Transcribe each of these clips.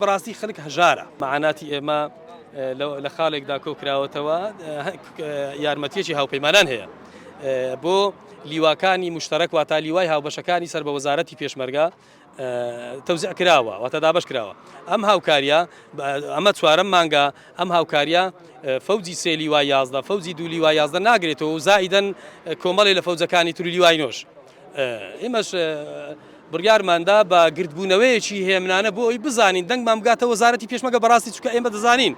بەڕاستی خەلک هەژارە مەعاناتی ئێمە لە خاڵێکدا کۆکراوەتەوە یارمەتیەکی هاوپەیمانان هەیە بۆ لیواکانی مشتەرەک واتا لیوای هاوبەشەکانی سەر بە وەزارەتی پێشمەرگە تەوزع کراوە واتە دابش کراوە ئەم هاوکاریە ئەمە چوارەم مانگە ئەم هاوکاریە فەوجی سێ لیوا یازدە فەوجی دوو لیوا یازدە ناگرێتەوە و زائیدەن کۆمەڵی لە فەوجەکانی تر لیوای نۆش ئێمەش بڕیارماندا بە گردبوونەوەیەکی هێمنانە بۆ ئەوی بزانین دەنگمان بگاتە وەزارەتی پێشمەگە بەڕاستی چکە ئێمە دەزانین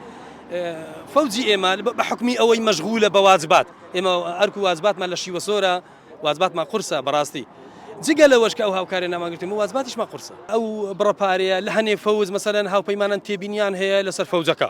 فەوجی ئێمە بە حکمی ئەوەی مەشغولە بە واجبات ئێمە ئەرک و واجباتمان لە شیوە سۆرە واجباتمان قورسە بەڕاستی جگە لەوەش کە ئەو هاوکارە ناماگرتم وازباتیشمە قورسە ئەو بڕەپارەیە لە هەنێ فەوز مەسەرەن هاوپەیمانان تێبینیان هەیە لەسەر فەوجەکە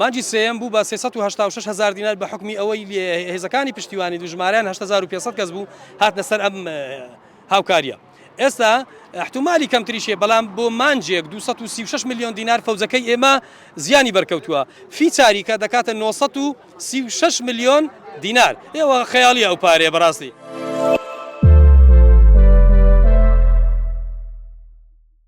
مانگی سێیەم بوو بە سێ سەد و هەشتا و شەش هەزار دینار بە حوکمی ئەوەی هێزەکانی پشتیوانی و ژمارەیان هەشت هەزار و پێنج سەد کەس بوو هاتنە سەر ئەم هاوکاریە ئێستا احتمالی کەمتریشێ بەڵام بۆ مانجێک 236 میلیۆن دینار فەوزەکەی ئێمە زیانی بەرکەوتووە فی چاریکە دەکاتە 936 میلیۆن دینار ئێوە خەیاڵی ئەو پارێ بەڕاستی.